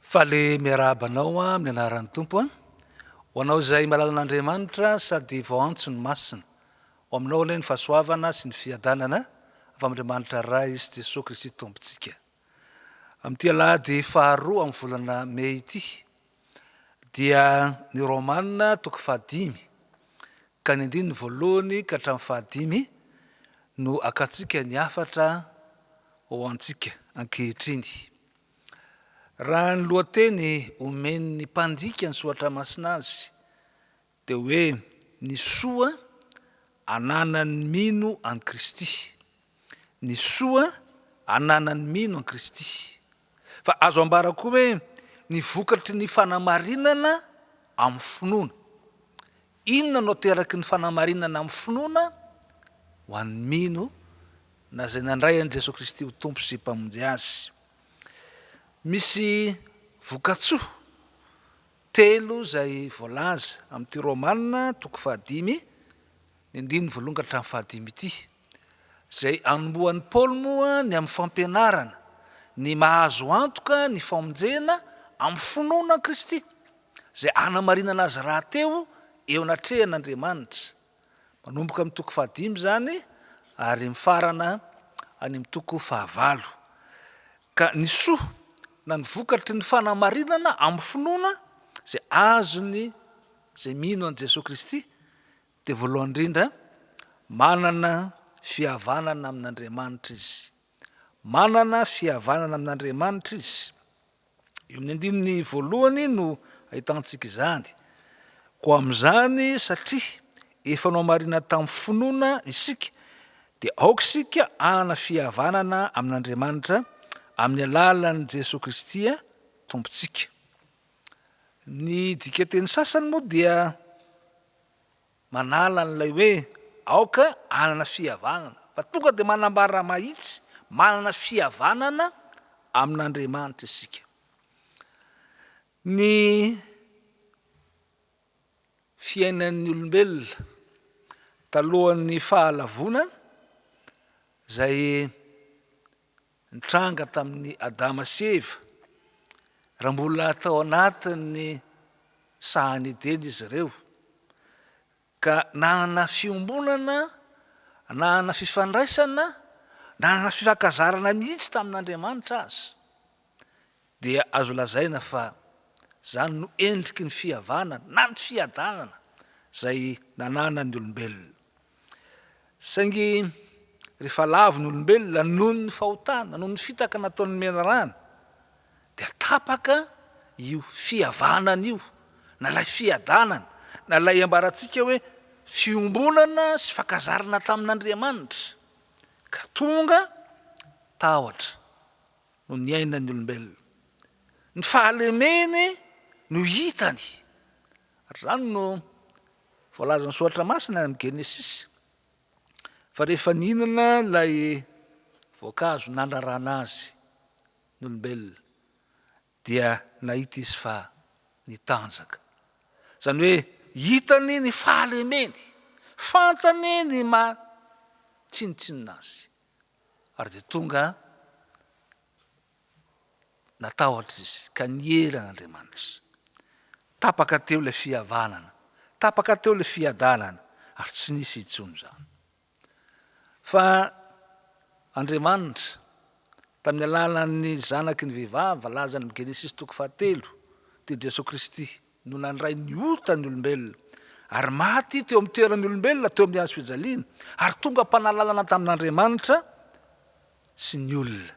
Faly miarahaba anao amin'ny anaran'ny Tompo a! Ho anao izay malalan'Andriamanitra sady vao antso ny Masina, Ho aminao ilay ny fahasoavana sy ny fiadanana avy amin'Andriamanitra Ray sy Jesoa Kristy Tompontsika. Amin'ity Alahady faharoa amin'ny volana Mey ity dia ny Romana toko fahadimy ka ny andininy voalohany ka hatramin'ny fahadimy no akantsika ny hafatra ho antsika ankehitriny. Raha ny lohateny omen'ny mpandika ny soratra masina azy Dia hoe ny soa ananan'ny mino an'i Kristy. Ny soa ananan'ny mino an'i Kristy. Fa azo ambara koa hoe ny vokatry ny fanamarinana amin'ny finoana. Inona no ateraky ny fanamarinana amin'ny finoana? Ho an'ny mino na izay nandray an'i Jesoa Kristy ho Tompo sy Mpamonjy azy. Misy voka-tsoa Telo izay voalaza amin'ity Romana toko fahadimy, ny andininy voalohany ka hatramin'ny fahadimy ity. Izay anombohan'i Paoly moa ny amin'ny fampianarana ny mahazo antoka ny famonjena amin'ny finoana an'i Kristy, izay hanamarinana azy rahateo eo anatrehan'Andriamanitra. Manomboka amin'ny toko fahadimy izany ary mifarana any amin'ny toko fahavalo. ka ny soa na ny vokatry ny fanamarinana amin'ny finoana izay azon'ny izay mino an'i Jesoa Kristy dia voalohany indrindra manana fihavanana amin'Andriamanitra izy. Manana fihavanana amin'Andriamanitra izy. Eo amin'ny andininy voalohany no ahitantsika izany. Koa amin'izany satria efa nohamarinan tamin'ny finoana isika Dia aoka isika hanana fihavanana amin'Andriamanitra amin'ny alalan'i Jesoa Kristy Tompontsika. Ny dikan-teny sasany moa dia manala an'ilay hoe aoka hanana fihavanana, fa tonga dia manambara mahitsy manana fihavanana amin'Andriamanitra isika. Ny. fiainan'ny olombelona talohan'ny Fahalavoana izay nitranga tamin'i Adama sy Eva, raha mbola tao anatin'ny sahan'i Edena izy ireo, ka nanana fiombonana, nanana fifandraisana, nanana fifankazarana mihitsy tamin'Andriamanitra aza. dia azo lazaina fa izany no endriky ny fihavana na ny fiadanana izay nananan'ny olombelona. Saingy rehefa lavo ny olombelona noho ny fahotana, noho ny fitaka nataon'ny menarana, dia tapaka io fihavanana io, na ilay fiadanana, na ilay iambarantsika hoe fiombonana sy fankazarana tamin'Andriamanitra, ka tonga tahotra. no niainan'ny olombelona. Ny fahalemeny no hitany. Izany no voalazan'ny Soratra Masina any amin'ny Genesisy, fa rehefa nihinana ilay voankazo nandrarana azy ny olombelona, dia nahita izy fa nitanjaka. Izany hoe hitany ny fahalemeny, fantany ny maha tsinontsinona azy. ary dia tonga natahotra izy ka niely an'Andriamanitra izy. Tapaka teo ilay fihavanana, tapaka teo ilay fiadanana, ary tsy nisy intsony izany. Fa Andriamanitra, tamin'ny alalan'ny zanaky ny vehivavy, voalazany amin'ny Genesisy toko fahatelo, dia Jesoa Kristy, no nandray ny ota ny olombelona, ary maty teo amin'ny toeran'ny olombelona teo amin'ny hazo fijaliana, ary tonga mpanalalana tamin'Andriamanitra sy ny olona.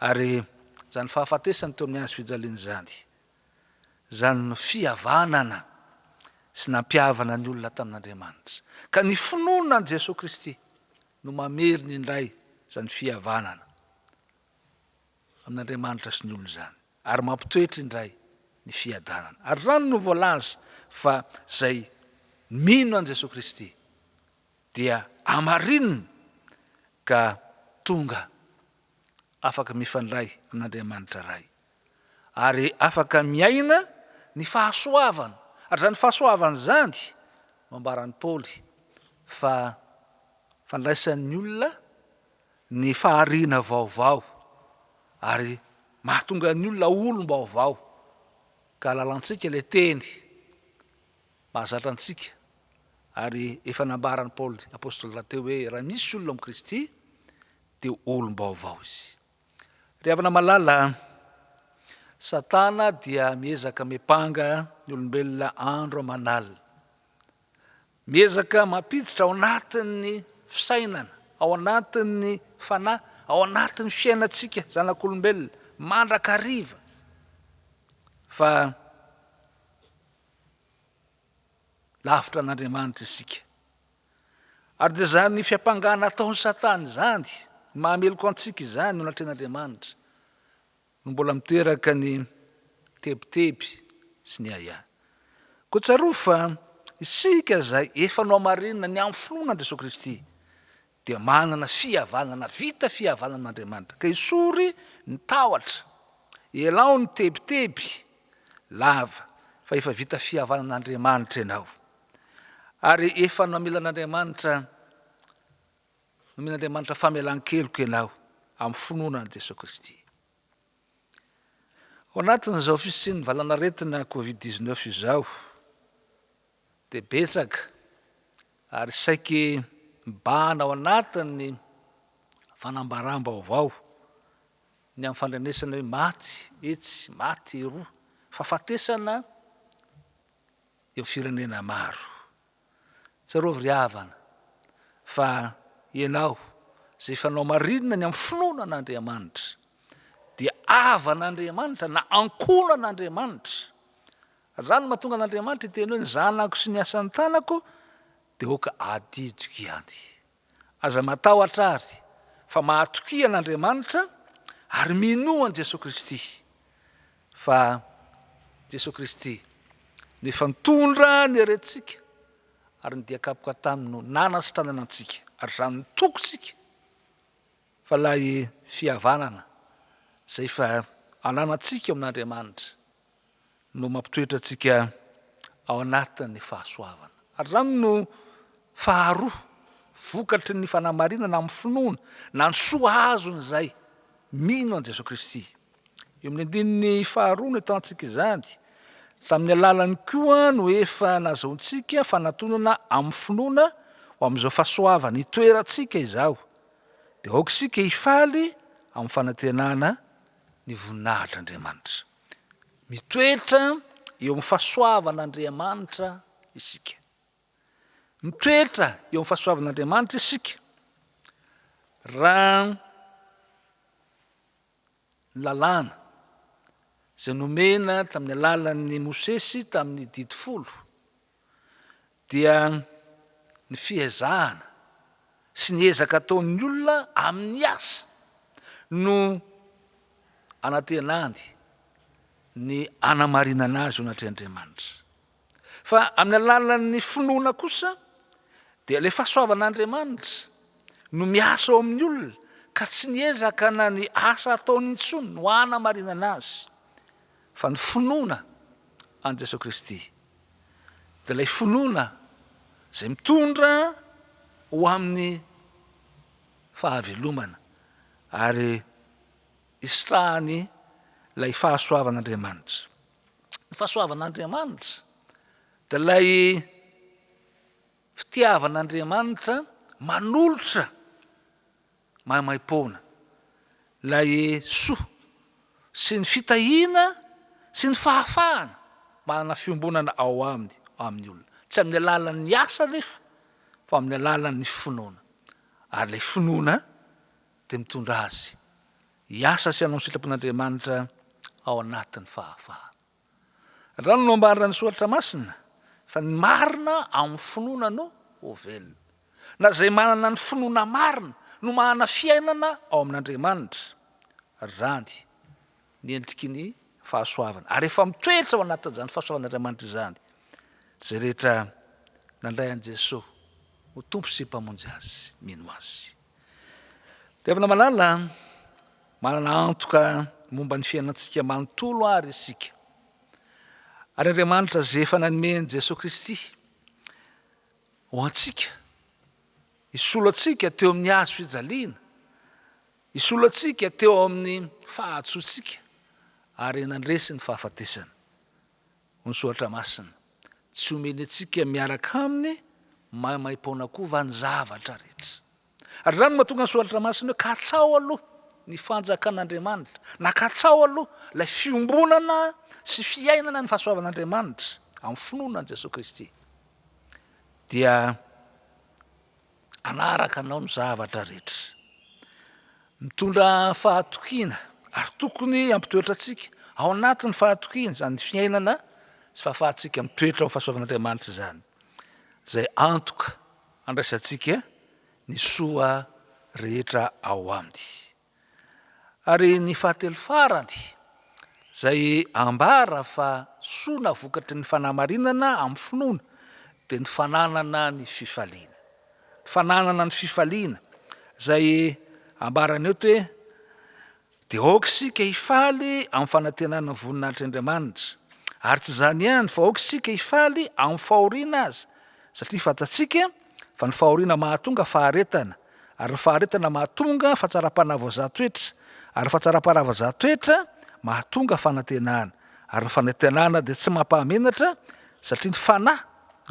Ary izany fahafatesany teo amin'ny hazo fijaliana izany, izany no fihavanana sy nampihavana ny olona tamin'Andriamanitra. Ka ny finoana an'i Jesoa Kristy no mamerina indray izany fihavanana amin'Andriamanitra sy ny olona izany. Ary mampitoetra indray ny fiadanana. Ary izany no voalaza fa izay mino an'i Jesoa Kristy dia hamarinina ka tonga afaka mifandray amin'Andriamanitra Ray ary afaka miaina ny fahasoavana. Ary izany fahasoavana izany no ambaran'i Paoly fa fandraisan'ny olona ny fahariana vaovao ary mahatonga ny olona ho olom-baovao ka lalantsika ilay teny mahazatra antsika ary efa nambaran'i Paoly apostoly rahateo hoe raha misy olona amin'i Kristy dia olom-baovao izy. Ry havana malala, Satana dia miezaka mipanga ny olombelona andro aman'alina. Miezaka mampiditra ao anatin'ny fisainana, ao anatin'ny fanahy, ao anatin'ny fiainantsika zanak'olombelona mandrakariva fa lavitra an'Andriamanitra isika. Ary dia izany fiampangana ataon'i Satana izany, mahameloka antsika izany eo anatrehan'Andriamanitra. no mbola miteraka ny tebiteby sy ny ahiahy. Koa tsarovy fa isika izay efa nohamarinina ny amin'ny finoana an'i Jesoa Kristy dia manana fihavanana, vita fihavanana amin'Andriamanitra, ka esory ny tahotra, elao ny tebiteby, lava, fa efa vita fihavanan'Andriamanitra ianao, ary efa namela an'Andriamanitra Nomen'Andriamanitra famelan-keloka ianao amin'ny finoana an'i Jesoa Kristy. Ao anatin'izao fisian'ny valanaretina Covid 19 izao dia betsaka ary saiky mibahana ao anatin'ny fanambaram-baovao ny amin'ny fandrenesana hoe maty etsy, maty eroa, fahafatesana eo firenena maro. Tsarovy ry havana fa ianao izay fanao marinina ny amin'ny finoana an'Andriamanitra dia havan'Andriamanitra na ankohonan'Andriamanitra. Raha ny mahatonga an'Andriamanitra hiteny hoe ny zanako sy ny asan'ny tanako dia aoka adidiko ihany. Aza matahotra àry, fa mahatokia an'Andriamanitra, ary minoa an'i Jesoa Kristy, fa Jesoa Kristy no efa nitondra ny herentsika, ary ny dian-kapoka taminy no nanasitranana antsika, ary izany no tokintsika, fa ilay fihavanana izay efa ananantsika ao amin'Andriamanitra, no mampitoetra antsika ao anatin'ny fahasoavana. Ary izany no faharoa vokatry ny fanamarinana amin'ny finoana, na ny soa azon'izay mino an'i Jesoa Kristy. Eo amin'ny andininy faharoa no ahitantsika izany, Tamin'ny alalany koa no efa nazahoantsika fanatonana amin'ny finoana ho amin'izao fahasoavana itoerantsika izao, dia aoka isika hifaly amin'ny fanantenana ny voninahitr'Andriamanitra. Mitoetra eo amin'ny fahasoavan'Andriamanitra isika. Mitoetra eo amin'ny fahasoavan'Andriamanitra isika raha ny lalàna izay nomena tamin'ny alalan'i Mosesy tamin'ny didy folo dia ny fiezahana sy ny ezaka ataon'ny olona amin'ny asa no anantenany ny anamarinana azy ho anatrehan' Andriamanitra. Fa amin'ny alalan'ny finoana kosa dia ilay fahasoavan' Andriamanitra no miasa ao amin'ny olona ka tsy ny ezaka na ny asa ataony intsony no anamarinana azy fa ny finoana an'i Jesoa Kristy. dia ilay finoana izay mitondra ho amin'ny fahavelomana ary hisitrahany ilay fahasoavan'Andriamanitra. Ny fahasoavan'Andriamanitra dia ilay fitiavan'Andriamanitra manolotra Maimaimpoana, ilay soa sy ny fitahiana sy ny fahafahana manana fiombonana ao aminy amin'ny olona. Tsy amin'ny alalan'ny asa anefa fa amin'ny alalan'ny finoana. Ary ilay finoana dia mitondra azy hiasa sy hanao ny sitrapon'Andriamanitra ao anatin'ny fahafahana. Andrano no ambarana ny soratra masina fa ny marina ao amin'ny finoana no ho velona. Na izay manana ny finoana marina no manana fiainana ao amin'Andriamanitra, ary izany ny endriky ny fahasoavana, ary efa mitoetra ao anatin'izany fahasoavan'Andriamanitra izany izay rehetra nandray an'i Jesoa ho Tompo sy Mpamonjy azy, mino Azy. Tevina malala, manana antoka momba ny fiainantsika manontolo àry isika. Ary Andriamanitra izay efa nanome an'i Jesoa Kristy ho antsika, hisolo antsika teo amin'ny hazo fijaliana, hisolo antsika teo amin'ny fahatsoantsika, ary nandresy ny fahafatesana. ny Soratra Masina. Tsy omeny antsika miaraka aminy maimaim-poana koa va ny zavatra rehetra? Ary izany no mahatonga ny Soratra Masina hoe, Katsaho aloha ny fanjakan'Andriamanitra, na katsaho aloha ilay fiombonana sy fiainana ny fahasoavan'Andriamanitra amin'ny finoana an'i Jesoa Kristy. Dia. hanaraka anao ny zavatra rehetra. Mitondra fahatokiana ary tokony hampitoetra antsika ao anatin'ny fahatokiana izany ny fiainana sy fahafahantsika mitoetra amin'ny fahasoavan'Andriamanitra izany, izay antoka handraisantsika ny soa rehetra ao Aminy. Ary ny fahatelo farany, izay ambara fa soa na vokatry ny fanamarinana amin'ny finoana, dia ny fananana ny fifaliana. Ny fananana ny fifaliana, izay ambarany eto hoe, Dia aoka isika hifaly amin'ny fanantenana ny voninahitr' Andriamanitra. Ary tsy izany ihany, fa aoka isika hifaly amin'ny fahoriana aza, satria fantatsika Fa ny fahoriana mahatonga faharetana, ary ny faharetana mahatonga fahatsaram-panahy voazahan-toetra, ary ny fahatsaram-panahy voazahan-toetra mahatonga fanantenana, ary ny fanantenana dia tsy mampahamenatra, satria ny Fanahy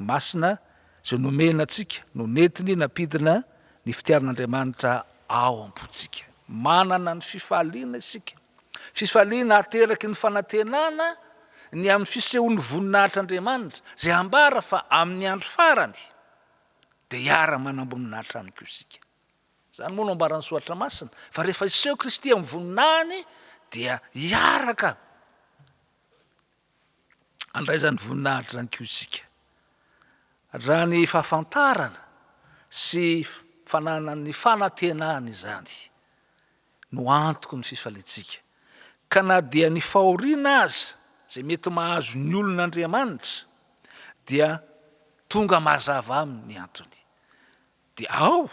Masina izay nomena antsika no nentiny nampidina ny fitiavan'Andriamanitra ao am-pontsika. Manana ny fifaliana isika. Fifaliana ateraky ny fanantenana ny amin'ny fisehon'ny voninahitr'Andriamanitra, izay ambara fa amin'ny andro farany dia hiara-manamboninahitra aminy koa isika. Izany moa no ambaran'ny Soratra Masina, fa rehefa hiseho Kristy amin'ny voninahiny dia hiaraka handray izany voninahitra izany koa isika. Raha ny fahafantarana sy fananan'ny fanantenana izany, no antoko ny fifaliantsika, ka na dia ny fahoriana aza izay mety mahazo ny olon' Andriamanitra dia tonga mazava amin' ny antony, dia ao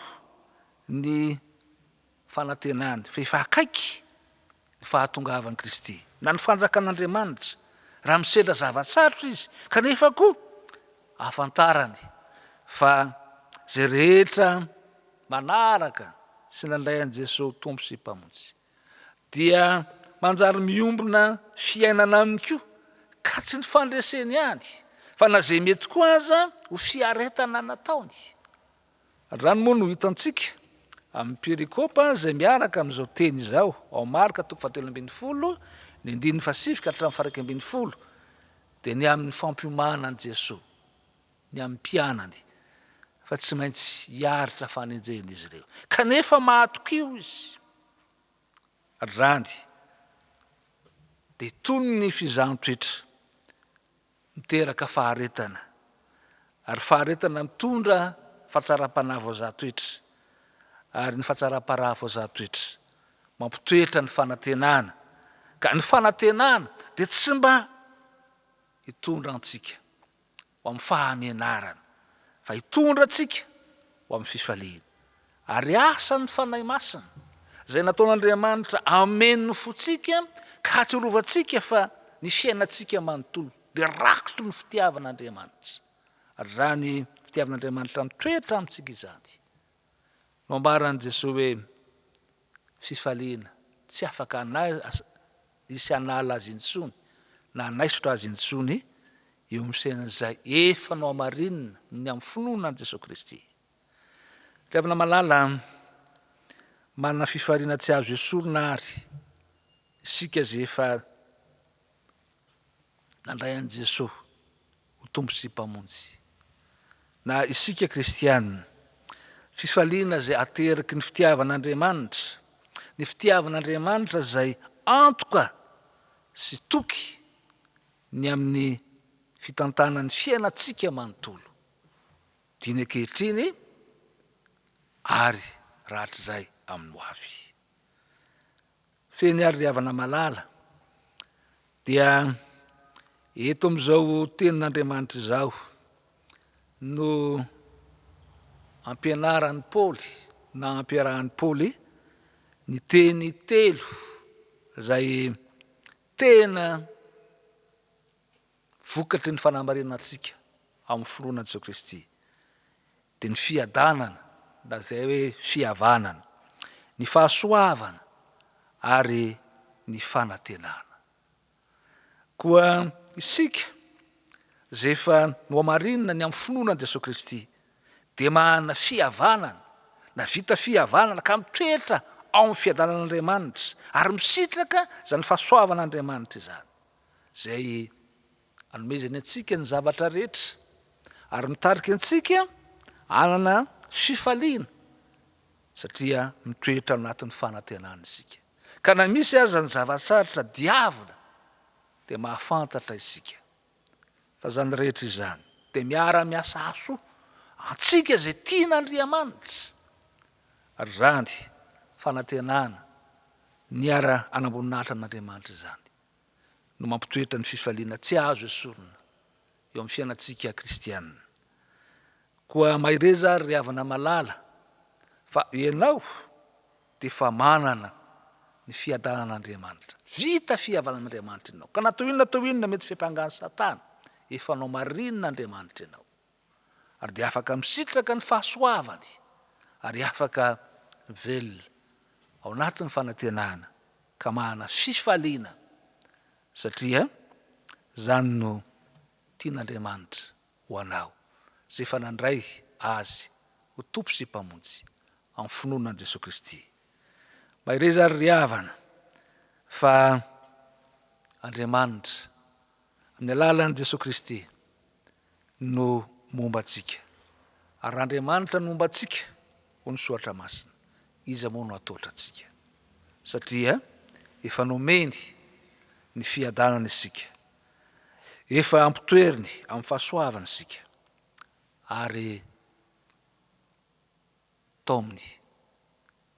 ny fanantenany fa efa akaiky ny fahatongavan' Kristy na ny fanjakan' Andriamanitra, raha misedra zava-tsarotra izy kanefa koa ahafantarany fa izay rehetra manaraka sy nandray an'i Jesoa ho Tompo sy Mpamonjy, dia manjary miombona fiainana aminy koa, ka tsy ny fandreseny ihany, fa na izay mety koa aza ho fiaretana nataony. Androany moa no hitantsika amin'ny perikopa izay miaraka amin'izao teny izao, ao Marka toko fahatelo ambin'ny folo, ny andininy fahasivy ka hatramin'ny faharaika ambin'ny folo, dia ny amin'ny fampiomana an'i Jesoa. ny amin'ny mpianany fa tsy maintsy hiaritra fanenjehina izy ireo, kanefa mahatokio izy hatrany dia tony ny fizaham-petra miteraka faharetana ary faharetana mitondra fahatsaram-panahy voazaha toetra ary ny fahatsaram-paraha voazaha toetra mampitoetra ny fanantenana ka ny fanantenana dia tsy mba hitondra antsika ho amin'ny fahamenarana, fa hitondra antsika ho amin'ny fifaliana. Ary asan'ny Fanahy Masina, izay nataon'Andriamanitra hameno fontsika ka hahatsiarovantsika fa ny fiainantsika manontolo dia rakotry ny fitiavan'Andriamanitra. Ary izany fitiavan'Andriamanitra mitoetra amintsika izany no ambaran'i Jesoa hoe, fifaliana, tsy afaka hanaiso sy hanala azy intsony na hanaisotra azy intsony eo amin'ny fiainan'izay efa nohamarinina ny amin'ny finoana an'i Jesoa Kristy. Ry havana malala, manana fifaliana tsy azo esorina àry isika izay efa nandray an'i Jesoa. ho Tompo sy Mpamonjy. Na isika kristiana, fifaliana izay ateraky ny fitiavan'Andriamanitra, ny fitiavan'Andriamanitra izay antoka sy toky ny amin'ny fitantanan'ny fiainantsika manontolo, diny ankehitriny ary rahatrizay amin'ny hoavy. Fehiny ary ry havana malala. Dia eto amin'izao tenin'Andriamanitra izao no ampianaran'i Paoly na ampiarahan'i Paoly ny teny telo izay tena vokatry ny fanamarinan-tsika amin'ny finoana an'i Jesoa Kristy. dia ny fiadanana na izay hoe fihavanana, ny fahasoavana ary ny fanantenana. Koa isika izay efa nohamarinina ny amin'ny finoana an'i Jesoa Kristy dia manana fihavanana na vita fihavanana ka mitoetra ao amin'ny fiadanan'Andriamanitra ary misitraka izany fahasoavan'Andriamanitra izany izay Anomezany antsika ny zavatra rehetra ary mitarika antsika hanana fifaliana satria mitoetra ao anatin'ny fanantenana isika. Ka na misy aza ny zava-tsarotra diavina dia mahafantatra isika fa izany rehetra izany dia miara-miasa hahasoa antsika izay tian'Andriamanitra ary izany fanantenana niara-hanamboninahitra an'Andriamanitra izany no mampitoetra ny fifaliana tsy azo esorina eo amin'ny fiainantsika kristiana. Koa mahereza àry ry havana malala, fa ianao dia efa manana ny fiadanan'Andriamanitra. Vita fihavanan'Andriamanitra ianao, ka na toy inona toy inona mety fiampanga an'i Satana, efa anao marina Andriamanitra ianao. ary dia afaka misitraka ny fahasoavany ary afaka velona ao anatin'ny fanantenana ka manana fifaliana satria izany no tian'Andriamanitra ho anao izay efa nandray Azy ho Tompo sy Mpamonjy amin'ny finoana an'i Jesoa Kristy. Mahereza ry ry havana fa Andriamanitra amin'ny alalan'i Jesoa Kristy no momba antsika, ary raha Andriamanitra no momba antsika, hoy ny Soratra Masina, iza moa no hatahotra antsika? Satria efa nomeny ny fiadanana isika, efa ampitoeriny amin'ny fahasoavany isika, ary taominy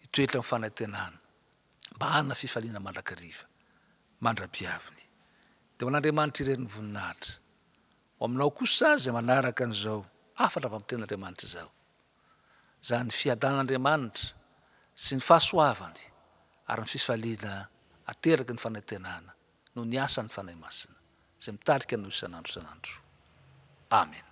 hitoetra amin'ny fanantenana mba hanana fifaliana mandrakariva mandra-piaviny. Dia ho an'Andriamanitra irery ny voninahitra. Ho aminao kosa izay manaraka an'izao hafatra fampian'Andriamanitra izao, izany fiadanan'Andriamanitra sy ny fahasoavany ary ny fifaliana ateraky ny fanantenana noho ny asan'ny Fanahy Masina izay mitarika anao isan'andro isan'andro. Amena.